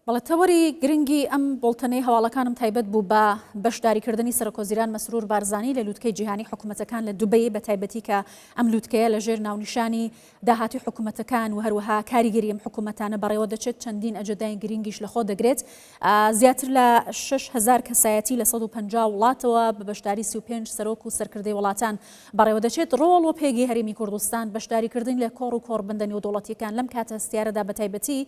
بەڵێ تەوەری گرنگی ئەم بوڵتەنەی هەواڵەکانم تایبەت بوو بە بەشداریکردنی سەرکۆزیران مەسرور بارزانی لە لوتکەی جیهانی حکومەتەکان لە دوبەی بە تایبەتی کە ئەم لوتکەیە لە ژێر ناونیشانی داهاتی حکومەتەکان و هەروەها کاریگەری ئەم حکومەتانە بەڕێوە دەچێت چەندین ئەجەدای گرنگیش لە خۆ دەگرێت زیاتر لە 6 هزار کەسایەتی لە 150 وڵاتەوە بە بەشداری 35 سەرۆک و سەرکردەی وڵاتان بەڕێوە دەچێت ڕۆڵ و پێگەی هەرێمی کوردستان بەشداریکردن لە کۆڕ و کۆڕبندە نێودوڵەتیەکان لەم کاتە هەستیارەدا بە تایبەتی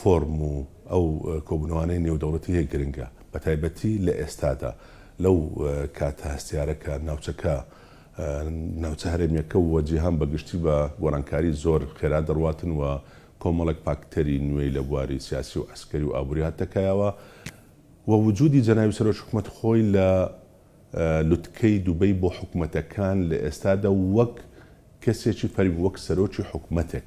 فۆرم و ئەو کۆبوونەوانەی نێودەوڵەتی هەیە گرنگە، بەتایبەتی لە ئێستادا، لەو کاتە هەستیارە کە ناوچەکە، ناوچە هەرێمییەکە و جیهان بە گشتی بە گۆڕانکاری زۆر خێرا دەڕواتن و کۆمەڵێک پاکتەری نوێی لە بواری سیاسی و عەسکەری و ئابووری هاتنە کایەوە و وجودی جەنابی سەرۆک حکومەت خۆی لە لوتکەی دوبەی بۆ حکومەتەکان لە ئێستادا وەک کەسێکی فەرمی، وەک سەرۆکی حکومەتێک.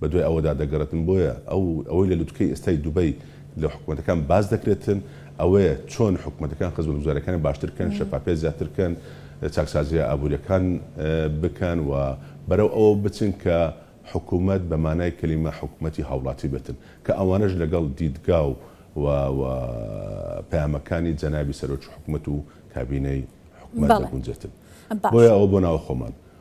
بەدوای ئەوەدا دەگەڕێتن بۆیە ئەو ئەوەی لە لوتکەی ئێستای دوبەی لە حکومەتەکان باس دەکرێتن ئەوەیە چۆن حکومەتەکان خزمەتگوزاریەکانی باشتر کەن شەفافیەت زیاتر بکەن چاکسازیە ئابوریەکان بکەن و بەرەو ئەوە بچن کە حکومەت بە مانای کەلیمە حکومەتی هاوڵاتی بێتن کە ئەوانەش لەگەڵ دیدگا و و پەیامەکانی جەنابی سەرۆکی حکومەت و کابینەی حکومەت دەگونجێتن بۆیە ئەوە بۆ ناوە خۆمان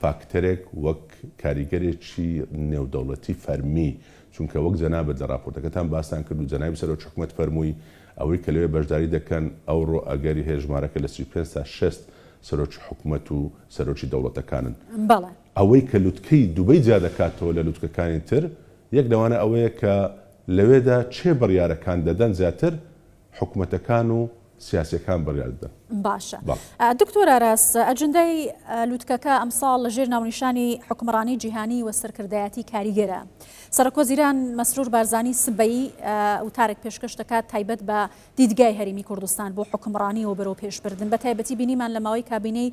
فاکتەرێک وەک کاریگەرێکی نێودەوڵەتی فەرمی، چونکە وەک جەنابت لە ڕاپۆرتەکەتان باستان کرد و جەنابی سەرۆک حکومەت فەرمووی، ئەوەی کە لەوێ بەشداری دەکەن ئەوڕۆ ئەگەری هەیە ژمارەکە لە سی و پێنج تا شەست سەرۆکی حکومەت و سەرۆکی دەوڵەتەکانن. بەڵێ. ئەوەی کە لوتکەی دوبەی جیا دەکاتەوە لە لوتکەکانی تر، یەک لەوانە ئەوەیە کە لەوێدا کێ بڕیارەکان دەدەن زیاتر حکومەتەکان و سیاسیەکان بڕیار بدەن. باشە دکتۆر ئاراس ئەجندای لوتکەکە ئەمساڵ لە ژێر ناونیشانی حکمڕانی جیهانی و سەرکردایەتی کاریگەرە سەرکۆزیران مەسرور بارزانی سبەی وتارێک پێشکەش دەکات تایبەت بە دیدگای هەرمی کوردستان بۆ حکمڕانی و بەرەو پێشبردن بە تایبەتی بینیمان لە ماوەی کابینەی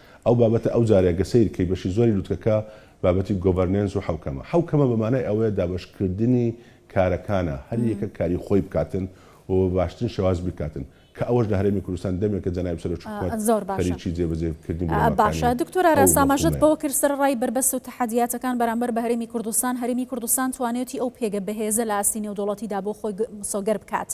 ئەو بابەتە ئەو جارەیە گە سەیر کەی بەشی زۆری لوتکەکە بابەتی گۆڤەرنێنس و حەوکەمە. حەوکەمە بە مانای ئەوەیە دابەش کردنی کارەکانە هەر یەکە کاری خۆی بکاتن و بە باشترین شێواز بیکاتن کە ئەوەش لە هەرێمی کوردستان دەمێکە جەنابی سەرۆک حکومەت خەریکی جێ بەجێ کردنی بنەماکانی ئەو مەفهومەیە.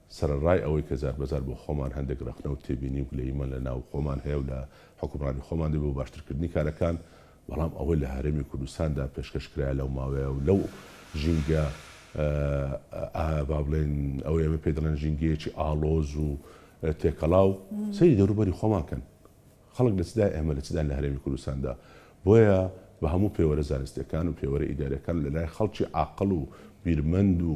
سەرەڕای ئەوەی کە جاربەجار بۆ خۆمان هەندێک ڕەخنە و تێبینی و گلەییمان لە ناو خۆمان هەیە و لە حوکمڕانی خۆمان دەبێ بۆ باشترکردنی کارەکان، بەڵام ئەوەی لە هەرێمی کوردستاندا پێشکەش کرایە لەو ماوەیە و لەو ژینگە ئا با بڵێین ئەوەی ئێمە پێی دەڵێن ژینگەیەکی ئاڵۆز و تێکەڵاو، سەیری دەوروبەری خۆمان کەن خەڵک لە چدایە ئێمە لە چداین لە هەرێمی کوردستاندا، بۆیە بە هەموو پێوەرە زانستییەکان و پێوەرە ئیدارییەکان و لە لای خەڵکی عاقڵ و بیرمەند و.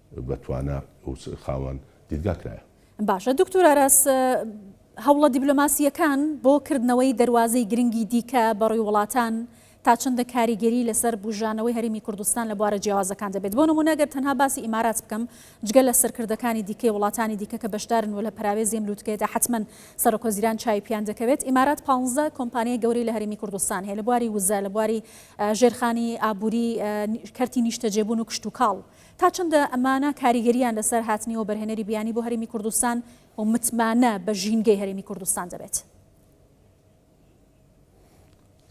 بەتوانا و خاوەن دیدگا کرایە. باشە دوکتور ئاراس هەوڵە دیبلۆماسییەکان بۆ کردنەوەی دەروازەی گرنگی دیکە بەڕووی وڵاتان تا چەندە کاریگەری لەسەر بوژانەوەی هەرێمی کوردستان لە بوارە جیاوازەکان دەبێت بۆ نمونە گەر تەنها باسی ئیمارات بکەم جگە لە سەرکردەکانی دیکەی وڵاتانی دیکە کە بەشدارن و لە پەراوێزی ئەم لوتکەیەدا حتمەن سەرۆکوەزیران چاوی پیان دەکەوێت ئیمارات پانزە کۆمپانیای گەورەی لە هەرێمی کوردستان هەیە لە بواری وزە لە بواری ژێرخانی ئابووری کەرتی نیشتەجێبوون و کشتوکاڵ تا چەندە ئەمانە کاریگەرییان لەسەر هاتنی وەبەرهێنەری بیانی بۆ هەرێمی کوردستان و متمانە بە ژینگەی هەرێمی کوردستان دەبێت؟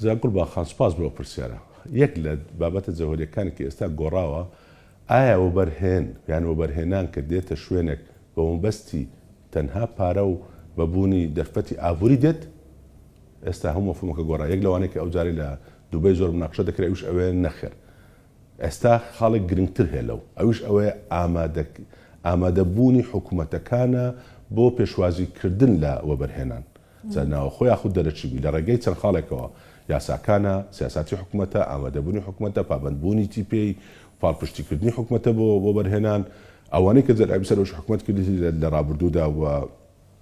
زیاد گوڵباخ خان، سوپاس بۆ ئەو پرسیارە. یەک لە بابەتە جەوهەرییەکانی کە ئێستا گۆڕاوە، ئایا وەبەرهێن یان وەبەرهێنان کە دێتە شوێنێک بە مەبەستی تەنها پارە و بە بوونی دەرفەتی ئابووری دێت؟ ئێستا هەموو مەفهوومەکە گۆڕا. یەک لەوانەی کە ئەوجارەی لە دوبەی زۆر مناقشە دەکرا ئەویش ئەوەیە، نەخێر. ئێستا خاڵێک گرنگتر هەیە لەو، ئەویش ئەوەیە ئامادە بوونی حکومەتەکانە بۆ پێشوازی کردن لە وەبەرهێنان، جا ناوەخۆ یاخود دەرەکی بی، لە ڕێگەی چەند خاڵێکەوە، یاساکانە، سیاساتی حکومەتە، ئامادە بوونی حکومەتە، پابەند بوونیی پێی، پاڵپشتی کردنی حکومەتە بۆ وەبەرهێنان، ئەوانەی کە جەلابی سەرۆکی حکومەت کردیتی لە ڕابردوودا و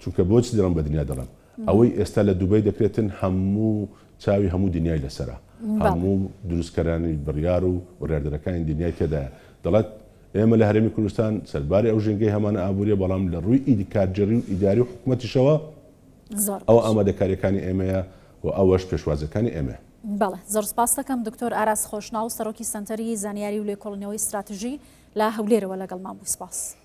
چونکە بۆچی دەڵێم بە دنیا دەڵێم ئەوەی ئێستا لە دوبەی دەکرێتن هەموو چاوی هەموو دنیای لەسەرە هەموو دروستکەرانی بڕیار و بڕاردەرەکانی دنیای تێدایە دەڵێت ئێمە لە هەرێمی کوردستان سەرباری ئەو ژینگەی هەمانە ئابووریە بەڵام لە ڕووی ئیدی کارگێڕی و ئیداری و حکومەتیشەوە ئەو ئامادەکاریەکانی ئێمەیە و ئەوەش پێشوازەکانی ئێمە بەڵێ زۆر سپاس دەکەم دکتۆر ئاراس خۆشناو سەرۆکی سەنتەری زانیاری و لێکۆڵنەوەی استراتژی لە هەولێرەوە لەگەڵمان بوو سپاس.